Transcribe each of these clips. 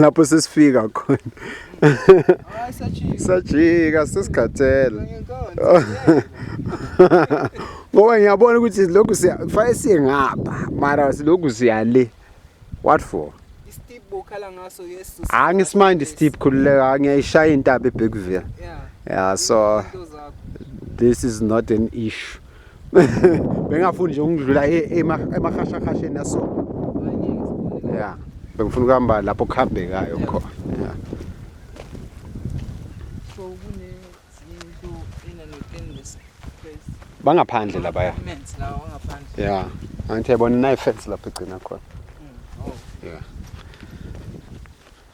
lapho sesifika khona sajika sesikhathele ngoba ngiyabona ukuthi lokhu kufanele siye ngapha mara silokhu siya le what for angisimandi steep khululeka ngiyayishaya intaba ebhekuvela yeah so this is not an issue bengafuni nje ukudlula e, emahashahasheni naso ya bengifuna ukuhamba lapho kuhambekayo khona ya bangaphandle labaya ya angithi yabona nayi fence lapho igcina khona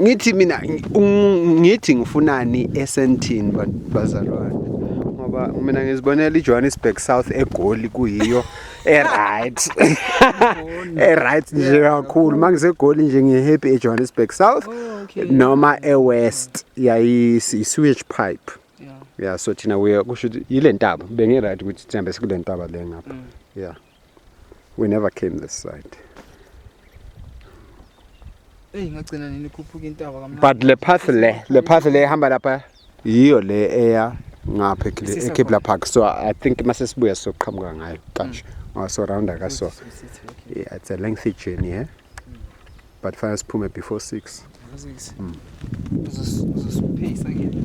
ngithi mina ngithi ngifunani esentini bazalwane ngoba mina ngizibonela iJohannesburg South eGoli kuyiyo eright eright nje kakhulu mangisegoli nje ngihappy eJohannesburg South oh, noma eWest yayisewage pipe yeah so thina we kusho yile ntaba bengiright ukuthi sihambe sikule ntaba le ngapha mm. yeah We never came this side. Hey ngagcina nini khuphuka intaba kamnandi. But le path le, le path le ehamba lapha yiyo le eya ngapha ekle- eKibla Park. So I think mase sibuya soqhamuka ngayo kanje. Ngoba so round aka so. Yeah, it's a lengthy journey, eh? But fanele siphume before 6. Uzosipheyisa ngeke.